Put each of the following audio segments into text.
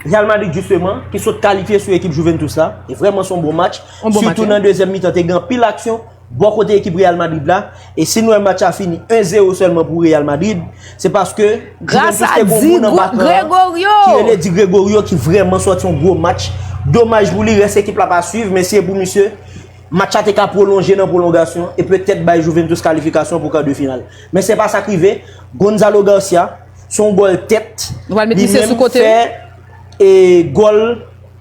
Real Madrid jisteman ki sot kalifye sou ekip Juventus la, e vrèman son bon match, sitou nan dezyèm mitan te gen anpil aksyon, bò kote ekip Real Madrid la, e si nou wè match la fini 1 zero sèlman pou Real Madrid, se paske Juventus te gon moun anba kan an, ki rele Di Gregorio ki vrèman sòti yon gwo match, domaj pou li rès ekip la pa swiv, men si e pou misye, match la te ka pwolonje nan pwolongasyon, e petèt bay Juventus kalifikasyon pou kar de final. Men se pa sa k rive, Gonzalo Garcia. Se yon gòl tèt. Nou pral met misye sou kote. Li menm fè e gòl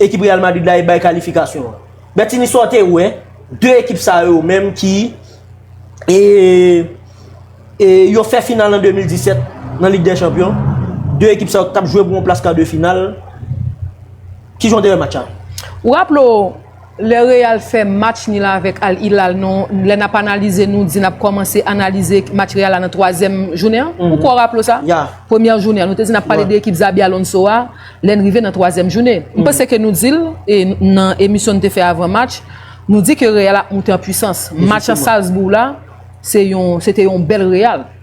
ekip Real Madrid la e bay kalifikasyon an. Bètini sa w te wè, 2 ekip sa yo menm ki e e yo fè final an 2017 nan Lig dè Chanpyon. 2 ekip sa yo ki t ap jwe pou yon plas kade final. Ki jan w te wè match la? Ou raple w. Lè Real fè match nil avèk Al Hilal non lè nap analize nou di nap kòmanse analize match Real la nan twazyèm jounen an ou kwè w raple w sa? Premyè jounen an nou te di nap pale de ekip Xabi Alonso a lè n rive nan twazyèm joune m panse ke nou di l e nan emisyon nou te fè avan match nou di ke Real ap moute an pwisans match Salzbourg la se yon se te yon bèl Real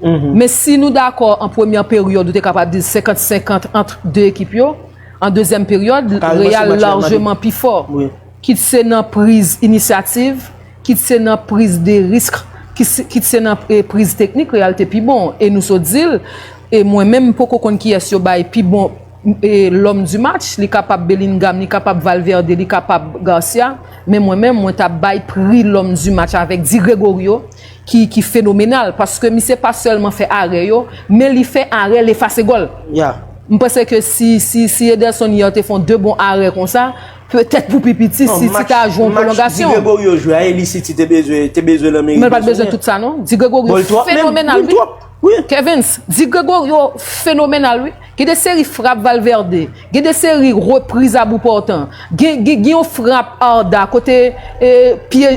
Men si nou dakò an premyè peryòd ou te kapab di l 50 50 ant 2 ekip yo, an dezyèm peryòd Real larjeman pi fò kit se nan priz inisyativ, kit se nan priz de risk, kit se nan priz teknik Real te pi bon e nou sot di l e mwen menm m poko konn kiyès yo bay pi bon lòm di match, li kapab Bellingham, li kapab Valverde, li kapab Garcia men mwen menm mwen ta bay pri lòm di match avèk Di Gregorio. ki fenomenal paske misye pa sèlman fè arè yo men li fè arè l efase gòl m panse ke si Ederson yè te fon 2 bon arè konsa petèt pou pi piti City ta jwe yon pwolongasyon match Di Gregorio jwe a e li City te bezwen te bezwen l an meri bezwen l men l pa t bezwen tout sa non Di Gregorio fenomenal wi Wi Kevens, Di Gregorio fenomenal wi, gen de seri frap Valverde, gen de seri repriz a bou pòtan, gen yon frap Arda kote pye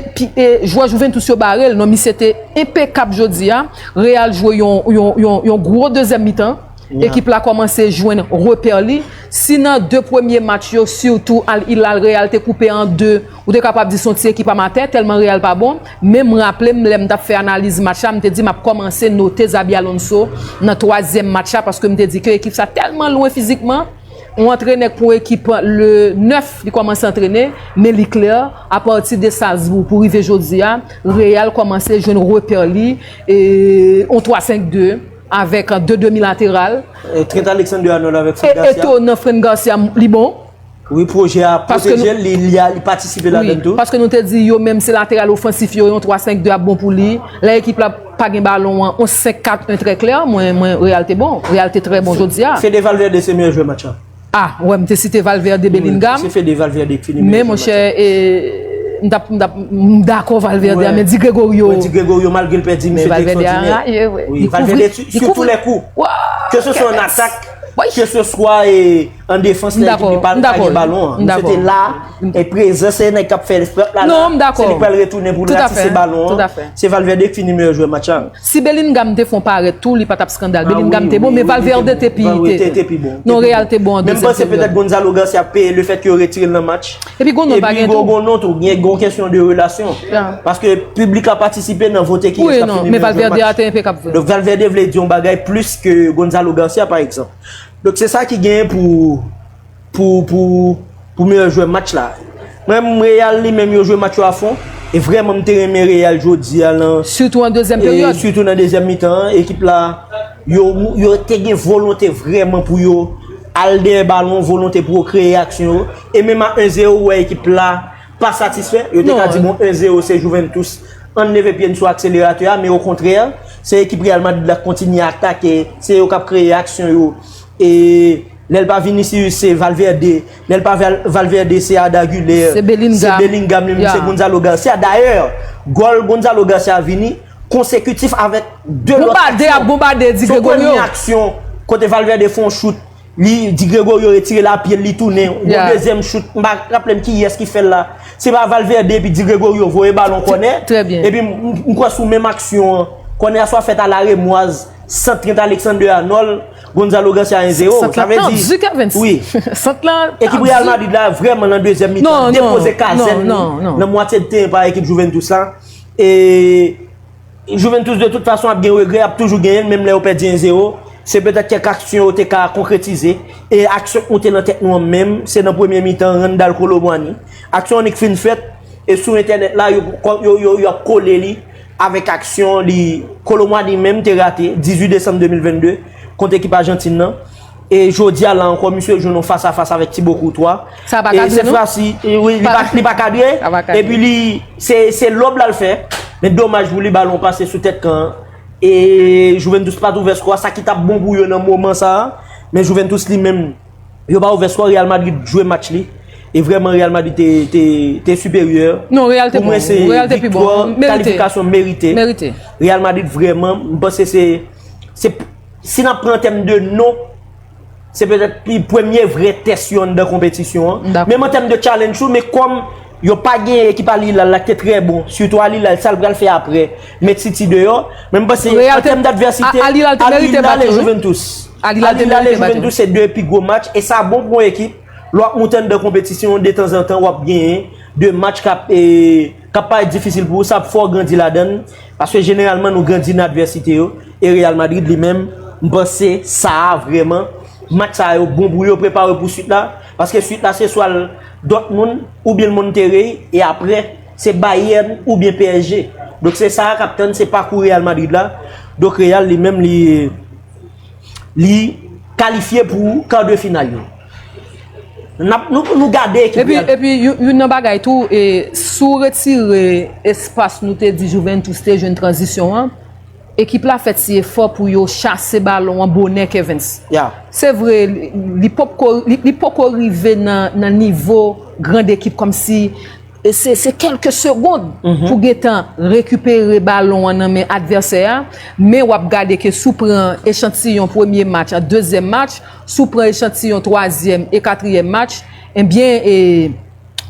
jwè Juventus yo bare l, non misye te enpekab jodi a, Real jwe yon gwo dezyèm mitan, ekip la kòmanse jwenn repè li, si nan 2 premye match yo sitou Al Hilal Real te koupe an 2. Ou te kapab di son ti ekip amatè tèlman Real pa bon, men m raple m lè m t ap fè analiz match la m te di m ap kòmanse note Xabi Alonso nan twazyèm match la paske m te di ke ekip sa tèlman lwen fizikman, on antrenè k pou on ekip le 9 li kòmanse antrene, men li klè a pati de Salzbourg pou rive jodi a Real kòmanse jwenn repè li e on 3 5 2 avèk 2 demi lateral, Trent Alexander-Arnold avèk Fran Garcia. Eto nan Fran Garcia li bon. Wi pwojè a pwoteje li, li patisipe la den tou. Paske nou te di yo menm se lateral ofansif yo, yon 3-5-2 ap bon pou li. Lè ekip la pa gen balon an, yon 5-4-1 trè klè, mwen Real te bon. Real te trè bon jodi a. Fede Valverde se meyè jwè match la. A, wè m te site Valverde, Bellingham. Se Fede Valverde ki fini meyè jwè match la. Men monchè, m tap, m tap, m dakò Valverde a, men Di Gregorio. Di Gregorio malgre l pèdi, misye te ekstwòdinè. Men Valverde a anraje, wè. Valverde sou tou lè kou. Ke se swa an atak, ke se swa e. An defans nan ekip li pa gen balon an. M dakò. M dakò. Misye te la, e prezan se nèg k ap fè frap la la. Non, m dakò. Se li k pral retounen pou l ratise balon an. Tout afè. Se Valverde k fini meyè jwè match la. Si Bellingham te fon parèt tou, li pa t ap skandal. Bellingham te bon, men Valverde te pi. Valverde te pi bon. Non, Real te bon an dezyèm peryon. Men m panse petèt Gonzalo Garcia ap peye lefèt yo retire l nan match. Epi Gonon pa gen tou. Epi Gonon tou. Gen yon kesyon de relasyon. Ya. Paske piblik la patisipe nan vote ki eska fini meyè jwè match. Wi, non. Men Valverde a te enpekab vre. Donk Valverde vle di yon bagay plis ke Gonzalo Garcia pa egzanp. Donk se sa ki genyen pou meyè jwè match la. Mwen menm Real li menm yo jwe match yo a fon. E vrèman m te renmen Real jodi a lan. Sitou an dezyèm peryòd. Sitou nan dezyèm mitan an. Ekip la yo te gen volonte vrèman pou yo al dèyè balon, volonte pou yo kreye aksyon. E menm a 1-0 ou wè ekip la. pa satisfè, yo te ka di bon 1 zero se Juventus an leve pye n sou akseleratè a men okontrè se ekip Real Madrid la k kontinye atake se yo k ap kreye aksyon yo e lè l pa Vinicius se Valverde lè l pa Valverde se Arda Güler se Bellingham li menm se Gonzalo Garcia dayè gòl Gonzalo Garcia vini konsekutif avèk 2 lòt aksyon se premye aksyon kote Valverde fon choute Li di Gregorio retire la pyel li tounen gon dezyèm chout m pa raplem kiyès ki fèl la se pa Valverde epi di Gregorio voye balon kònè epi m kwè sou menm aksyon an kònè a swa fèt a laremwaz sant Trent Alexander-Arnold Gonzalo Garcia 1 0 sant la tan du Kervens wi sant la tan du ekip Real Madrid la vrèman nan dezyèm mitan non non depoze kazèn li nan mwatye de teren pa ekip Juventus la e. Juventus de tout fason ap gen regrè, ap toujou genyen l menm lè yo pèdi 1 zero, se petèt kèk aksyon yo te ka konkretize, e aksyon k moute nan tèt nou an menm, se nan premye mitan Randal Kolo Muani, aksyon annik fin fèt, e sou entènèt la yo ap kole li avèk aksyon li Kolo Muani menm te rate 18 desanm 2022 kont ekip Ajantin nan. E jodi a la ankò misye jwenn yon fas a fas avèk Tibo Koutwa. Sa pa kadre nou? Li pa kadre. E pi li se lòb la l fè. Men domaj pou li balon pase sou tèt kan an. E Juventus pa t ouvè skò a. Sa ki t ap bon pou yo nan moman sa a. Men Juventus li menm yo pa ouvè skò. Real Madrid jwe match li. E vrèman Real Madrid te siperyè. Non Real te bon. Pou mwen se viktwa kalifikasyon merite. Real Madrid vrèman m panse se. Si n ap pran an tèm de non, se petèt pi premye vre tès yo anndan konpetisyon an. Dakò. Menm an tèm de challenge tou, men kòm yo pa gen ekip Al Hilal la ki te trè bon, sitou Al Hilal, sa l pral fè aprè, met City deyò. Men m panse, Real an te- tèm dadvèsite, A- Al Hilal te merite bat yo, wi. Juventus. Al Hilal te merite bat yo. Juventus se 2 pi gwo match, e sa bon pou yon ekip, lè w ap moute anndan konpetisyon, detanzantan w ap genyen 2 match k ap e. K ap parèt difisil pou ou, sa ap fè w grandi ladan l, paske jeneralman nou grandi nan advèsite yo, e Real Madrid li menm, m panse sa a vrèman, match sa yo bon pou yo prepare pou swit la, paske swit la se swa l Dortmund oubyen l Monterrey, e aprè se Bayern oubyen PSG. Donk se sa a k ap tann, se pakou Real Madrid la, donk Real li menm li kalifye pou kar de final yo. Nou gade ekip real. E pi yon nan bagay tou, si w retire espas nou te di Juventus te jwenn tranzisyon an, ekip la fè ti efò pou yo chase balon an bonè Kevens. Se vre, li poko rive nan nivo grand ekip kòm si se kelke segond pou gen tan rekipere balon an nan men advèsè a, men w ap gade ke si w pran echantiyon premye match ak dezyèm match, Si w pran echantiyon twazyèm e katriyèm match, enbyen e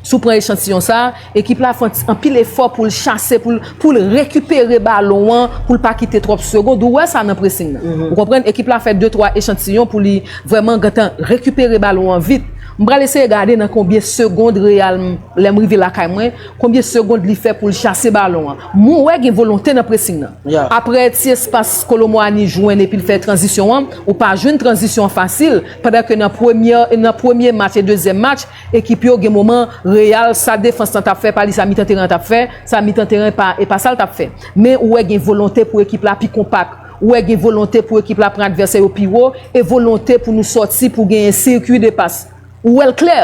si w pran echantiyon sa, ekip la ap fè anpil efò pou l chase, pou l rekipere balon an, pou l pa kite twòp segond, ou wè sa nan presing nan. Ou konprann? Ekip la fè de twa echantiyon pou li vrèman gentan rekipere balon an vit. M pral eseye gade nan konbyen segond Real, lè m rive lakay mwen, konbyen segond li fè pou l chase balon an. Mwen wè gen volonte nan presing nan. Aprè ti espas Kolo Muani jwenn epi l fè tranzisyon an, Ou pa jwenn tranzisyon an fasil pandan ke nan premyè nan premye match e dezyèm match ekip yo gen moman Real sa defans lan tap fè pa li sa mitan teren an tap fè sa mitan teren pa e pa sa l tap fè men ou wè gen volonte pou ekip la pi konpak ou wè gen volonte pou ekip la pran advèsè yo pi wo e volonte pou nou sòti pou genyen sirkui de pas ou wè l klè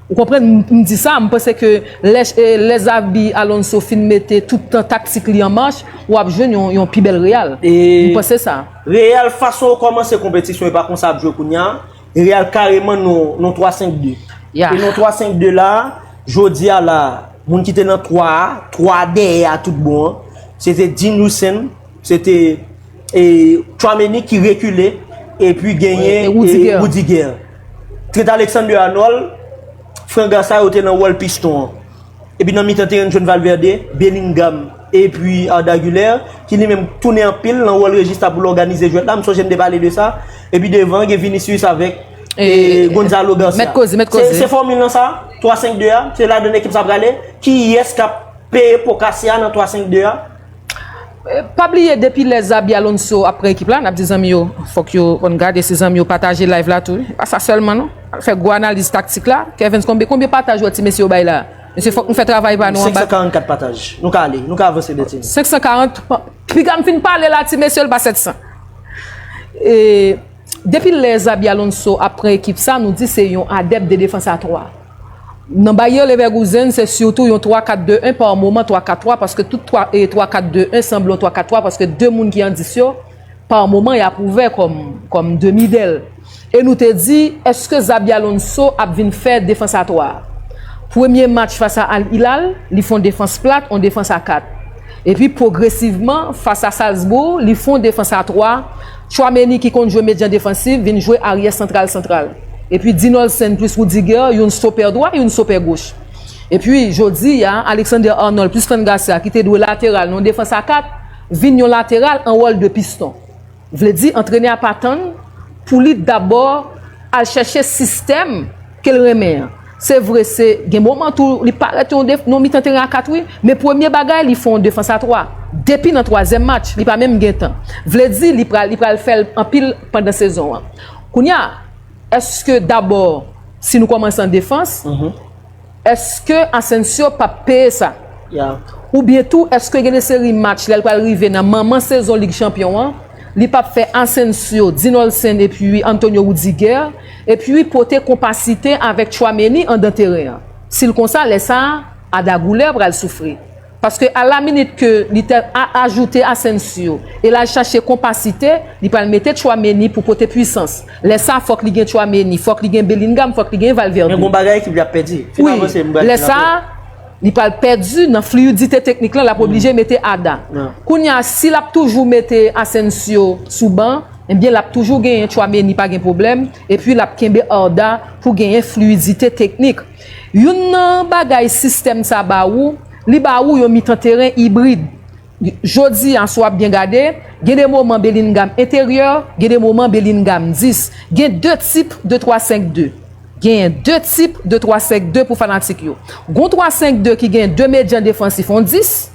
Ou konprann m di sa, m panse ke lè Xabi Alonso fin mete tout tan taktik li an mach, w ap jwenn yon pi bèl Real. M panse sa. Real fason yo kòmanse konpetisyon e pa konsa y ap jwe kounya, Real kareman nan 3 5 2. E nan 3 5 2 la, jodi a la, moun ki te nan 3 a, 3 dèyè a tout bon an, se te Dean Huijsen, se te Tchouaméni ki rekile, epi genyen Rudiger. Trent Alexander Arnold, Frank Garça yo te nan wòl piston an. Epi nan mitan teren n jwenn Valverde, Bellingham epi Arda Güler ki li menm tounen anpil nan wòl Regista pou l òganize jwèt la, m sonje m te pale de sa. Epi devan gen Vinicius avèk Gonzalo Garcia. Se fòmil lan sa? 3-5-2 a? Se ladann ekip sa prale? Kiyès k ap peye po kase a nan 3-5-2 a? Pa bliye depi lè Xabi Alonso ap pran ekip la nap di zanmi yo fòk yo konn gade se zanmi yo pataje live la tou wi pa sa sèlman non al fè gwo analiz taktik la Kervens konbyen konbyen pataj ou wè ti mesye yo bay la mesye fòk nou fè travay pa nou anba 544 pataj nou ka ale nou ka avanse Bertinie 540 piga m fin pale la ti mesye l pa 700 e depi lè Xabi Alonso ap pran ekip sa nou di se yon adèp de defans a 3. Nan Bayer Leverkusen, se sitou yon 3-4-2-1 pa moman 3-4-3 paske tout 3-4-2-1 sanble yon 3-4-3 paske 2 moun ki an 10 yo pa moman y ap ouvè kòm demi dèl. E nou te di, èske Xabi Alonso ap vin fè defans a 3? Premye match fas a Al Hilal, li fon defans plat, yon defans a 4. Epi pwogresivman, fas a Salzbourg, li fon defans a 3. Tchouameni ki konn jwe medyan defansif vin jwe aryè santral santral. Epi Dinolsen plis Rudiger youn stopè dwa youn stopè goch. Epi jodi a Alexander Arnold plis Fran Garcia ki te dwe lateral nan yon defans a 4 vin yon lateral an wòl de piston. Vle di antrenè a pa tann pou li dabò al chèche sistèm. Kel renmen an. Se vre se gen moman tou li parèt yon def yon mitan teren a 4 wi, men premye bagay li fè yon defans a 3. Depi nan twazyèm match li pa menm gentan. Vle di li pral li pral fè l anpil pandan sezon an. Kounya èske dabò si nou kòmanse an defans, èske Asensio pap peye sa? Oubyen tou èske gen de seri match lè l pral rive nan manman sezon Lig Chanpyon an, li pap fè Asensio, Dean Olsen epi Antonio Rudiger? Epi pote konpasite avèk Tchouameni andan teren an. Si l konsa, lè sa a, Ada Goulè pral soufri. Paske alaminit ke li te ajoute Asensio e l al chache konpasite, li pral mete Tchouameni pou pote pwisans. Lè sa a, fòk li gen Tchouameni, fòk li gen Bellingham, fòk li gen Valverde. Men gon bagay ekip li ap pèdi. Wi, lè sa a, li pral pèdi nan fliyidite teknik lan, l ap oblije mete Ada. Kounye a, si l ap toujou mete Asensio sou ban, Ebyen lap toujou genyen Tchouameni pa gen pwoblèm epi lap kenbe Arda pou genyen fluidite teknik. Youn nan bagay sistèm sa ba ou, li ba ou yon mitan teren ibrid. Jodi a si wap byen gade, gen de moman Bellingham enteryè, gen de moman Bellingham 10. Gen 2 tip de twa senk de. Genyen 2 tip de twa senk de pou fanatik yo. Gon twa senk de ki gen 2 medyan defansif on 10.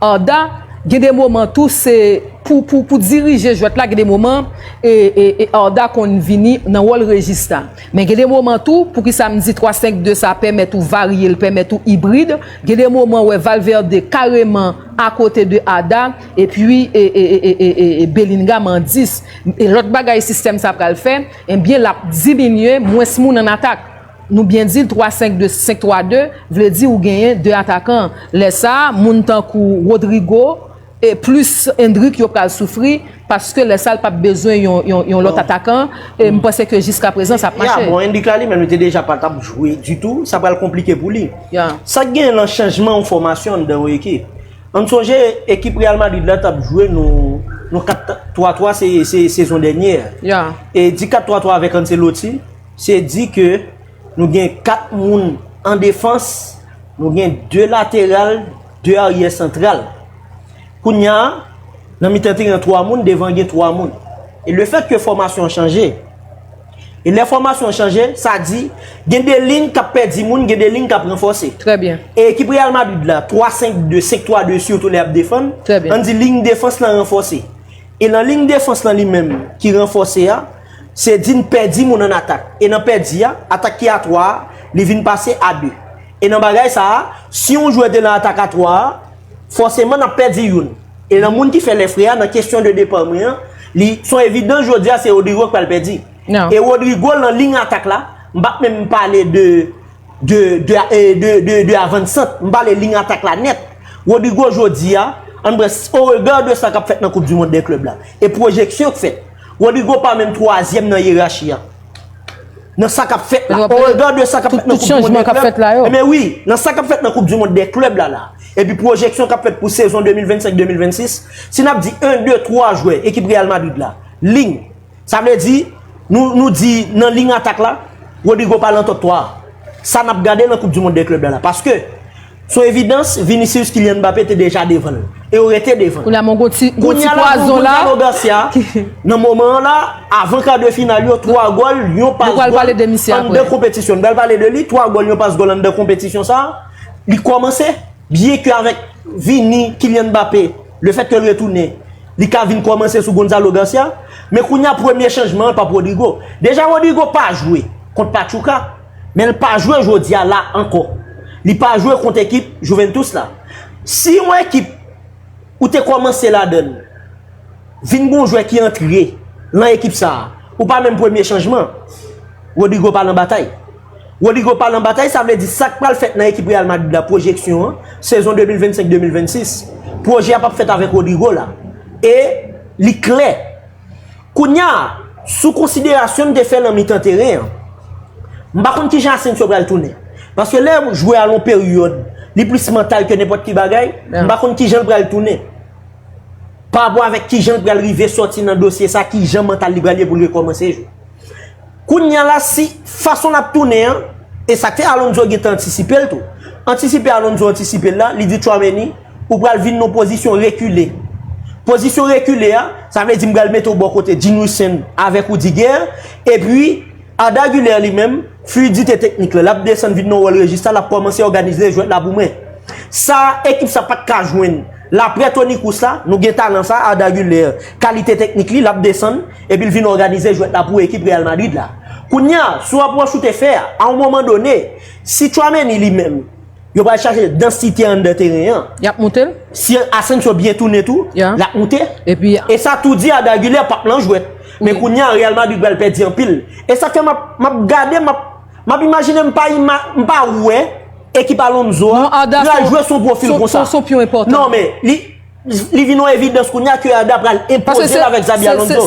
Arda gen de moman tou se pou pou pou dirije jwèt la gen de moman e e e Arda konn vini nan wòl rejista men gen de moman tou poukisa m di 3 5 2 sa pèmèt ou varye l pèmèt ou ibrid gen de moman wè Valverde kareman akote de Arda epi e e e e e e Bellingham an 10 e lòt bagay sistèm sa pral fè enbyen l ap diminye mwens moun an atak. Nou byen di l 3 5 2 5 3 2 vle di ou genyen 2 atakan. Lè sa a moun tankou Rodrygo e plis Endrick yo pral soufri paske lè sa l pap bezwen yon lòt atakan e m panse ke jiskaprezan sa ap mache. Ya bon Endrick la li menm li te deja pa kab jwe ditou, sa pral konplike pou li. Sa k genyen nan chanjman yon fòmasyon anndan yon ekip? An n sonje ekip Real Madrid la t ap jwe nou 4 3 3 se sezon dènye a e di 4 3 3 avèk Ancelotti. Se di ke nou gen 4 moun an defans, nou gen 2 lateral, 2 aryè santral. Kounya, nan mitan teren an 3 moun, devan gen 3 moun. E le fèt ke fòmasyon an chanje, e lè fòmasyon an chanje, sa di, gen 2 lign kap pèdi moun, gen 2 lign kap ranfòse. Trè byen. E ekip Real Madrid la, 3-5-2, 5-3-2 sitou lè yap defann, an di lign defans lan ranfòse. E lan lign defans lan li menm ki ranfòse a, Se di n pèdi moun an atak. E nan pèdi a, atak ki a 3 a, li vin pase a 2. E nan bagay sa a, si yon jwè te nan atak a 3 a, fòseman n ap pèdi youn. E nan moun ki fè lèfre a, nan kesyon de depa mwen an, li s on evidans jodi a se Rodrigo k pral pèdi. E Rodrigo lan liy atak la, m pa p menm pale de de de de avansant, m pale liy atak la nèt. Rodrigo jodi a, an n pran s o rega de sa k ap fèt nan koup di mond dè klèb la e pwojeksyon k fèt, Rodrigo pa menm twazyèm nan yerachi a. Nan sa k ap fèt la. O regan de sa k ap fèt nan koup di mond de klèb. Enben wi, nan sa k ap fèt nan koup di mond de klèb la la. Epi pwojeksyon k ap fèt pou sezon 2025, 2026. Si n ap di 1, 2, 3 jwè ekip Real Madrid la. Ling. Sa vle di, nou di nan ling atak la, Rodrigo pa lan tòp 3 a. Sa n ap gade nan koup di mond de klèb la la. Paske, Sou evidans, Vinicius Kylian Mbappé te deja devan l. E yo rete devan. Kounya bon gon ti pwazon la. Goncalo Garcia, nan moman an la, avan kar de final yo, 3 gòl, yon pas gòl, an de kompetisyon. Nou pral pale de li, 3 gòl, yon pas gòl, an de kompetisyon sa. Li kòmanse, byen ke avèk Vini, Kylian Mbappé, le fèt ke l retounen, li ka vin kòmanse sou Goncalo Garcia. Men kounya premye chanjman an pa Rodrygo. Deja Rodrygo pa jwe kont Pachuca. Men l pa jwe jodi a la ankò. Li pa jwe kont ekip Juventus la. Si yon ekip ou te kòmanse ladan l vin gen yon jwè ki antre lan ekip sa a, ou pa menm premye chanjman. Rodrygo pa lan batay. Rodrygo pa lan batay sa vle di sa k pral fèt nan ekip Real Madrid la pwojeksyon an, sezon 2025-2026, pwojè a p ap fèt avèk Rodrygo la. E li klè. Kounya, sou konsiderasyon m te fè nan mitan teren an, m pa konn kijan Asensio pral tounen. Paske lè jwè a lon peryòd, li plis mantal ke nenpòt ki bagay, m pa konn kijan l pral tounen. Parapò avèk kijan l pral rive sòti nan dosye sa, kijan mantal li pral ye pou l rekòmanse jwe. Kounya la si fason lap tounen an, e sak fè Alonso gentan antisipe l tou. Antisipe Alonso antisipe l la, li di Tchouameni, ou pral vin nan pozisyon rekile. Pozisyon rekile a, sa vle di m pral mete w bò kote Gene Husson avèk Rudiger, epi Arda Güler li menm, fluidite teknik la, lap desann vin nan wòl rejista, lap kòmanse òganize jwèt la pou mwen. Sa ekip sa pat ka jwenn laprè Toni Kroos la, nou gen talan sa, Arda Güler, kalite teknik li, lap desann. Epi l vin òganize jwèt la pou ekip Real Madrid la. Kounye a, sou apwòch ou te fè a, a yon moman done, si Tchouameni li menm, yo pral chache dansite anndan teren an. Y ap moute l. Si Asensio byen tounen tou, l ap moute. E sa tou di a D'Aguilè pa p lan jwèt. Men kounye a, Real Madrid pral pèdi anpil. E sa k fè m ap, m ap gade, m ap, m ap imajine m pa ima, m pa wè ekip Alonso a pral jwe sou pwofil konsa. Non Arda se yon pyon enpòtan. Non men, li. Li vin yon evidans kounye a ke Arda pral enpoze l avèk Xabi Alonso.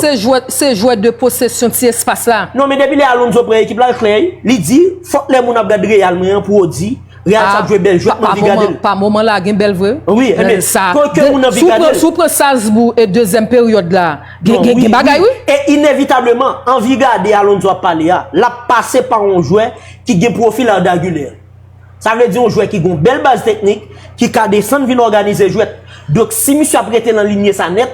Se jwè de posesyon ti espas la. Non men depi lè Alonso pran ekip la l klè. Li di, fòk lè moun ap gad Real mwen an pou yo di, Real sa ap jwe bèl jwèt m anvi gade l. Pa moman la gen bèl vre. Wi, e men sa. Pou ke moun anvi gade l. Si w pran Salzbourg e dezyèm peryòd la, gen bagay wi. E inevitableman, anvi gade Alonso ap pale a, l ap pase pa yon jwè ki gen pwofil Arda Güler. Sa vle di yon jwè ki gen yon bèl baz teknik, ki ka desann vin òganize jwèt. Donk si misye ap rete nan linye sa nèt,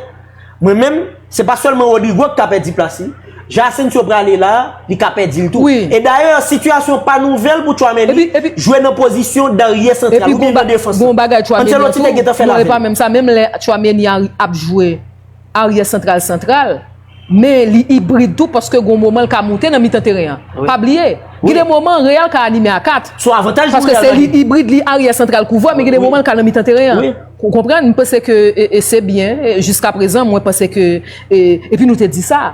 mwen menm, se pa sèlman Rodrygo ki ka pèdi plas li. Jan Asensio prale la a, li ka pèdi l tou. E dayè, sitiyasyon pa nouvèl pou Tchouaméni jwe nan pozisyon daryè santral oubyen nan defans la. Anceloti te gentan fè l avè l. Aryè santral santral, men li ibrid tou paske gon moman l ka moute nan mitan teren an. Pa bliye, gen de moman Real ka anime a 4. Paske se li ibrid, li aryè santral kouvwè, men gen de moman l ka nan mitan teren an. Ou konprann? M panse ke se byen jiskaprezan, mwen panse ke epi nou te di sa.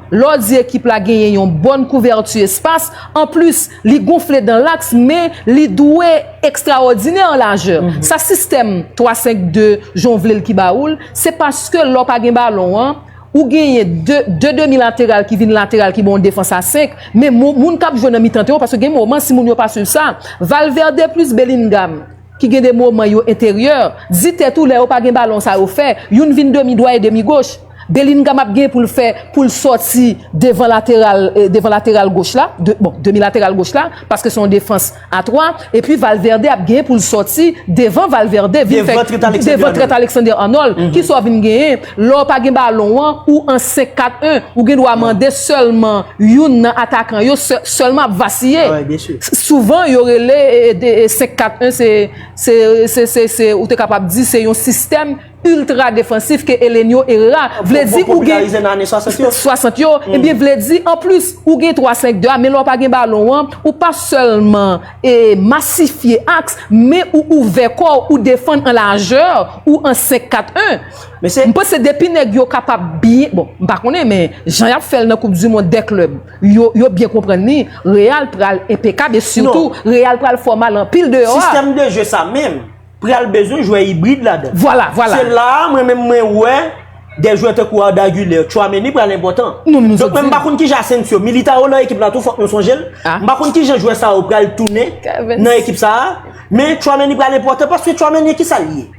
Lè w di ekip la genyen yon bòn kouvèti espas, anplis li gonfle dan laks men li dwe ekstraòdinè an lajè. Sa sistèm 3 5 2 jan w vle l ki ba ou l, se paske lè w pa gen balon an, ou genyen 2 de demi lateral ki vin lateral ki ba w yon defans a 5, men moun k ap jwe nan mitan teren w, paske gen moman si moun yo pa swiv sa, Valverde plis Bellingham. ki gen de moman yo enteryè, di tèt ou lè yo pa gen balon sa yo fè, youn vin demi dwat e demi goch, Bellingham ap gen poul fè poul sòti devan lateral devan lateral goch la, bon demi lateral goch la, paske se yon defans a 3, epi Valverde ap gen poul sòti devan Valverde vin fè devan Trent Alexander-Arnold, kisa w vin genyen? Lè w pa gen balon an, ou an 5-4-1, ou gen dwa mande sèlman youn nan atakan yo sèlman ap vasiye. Souvan yo rele 5-4-1 se se ou te kapab di se yon sistèm iltra defansif ke Elenio Herrera vle di ou gen 60 yo ebyen vle di an plis ou gen 3-5-2 a men lè w pa gen balon an ou pa sèlman masifye aks men ou ouvè kò w ou defann an lajè ou an 5-4-1. Mesye. M panse depi nèg yo kapab byen, bon, m pa konnen men jan y ap fè l nan koup di mond dè klèb yo yo byen konprann li, Real pral enpekab e sitou Real pral fò mal anpil deyò a. Sistèm de je sa menm pral bezwen jwè ibrid ladan l. Vwala, vwala. Se la a mwen menm mwen wè dè jwè tankou Arda Güler, Tchouaméni pral enpòtan. Nou menm nou sot di. Donk men m pa konn kijan Asensio, Militao nan ekip la tou fòk nou sonje l. A. M pa konn kijan jwè sa yo pral tounen nan ekip sa a men Tchouaméni pral enpòtan paske Tchouaméni ki sa l ye?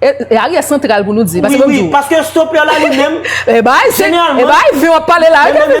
E a rye santral pou nou di. Wi wi paske stopper la li menm. E bay se e bay vin wap pale la.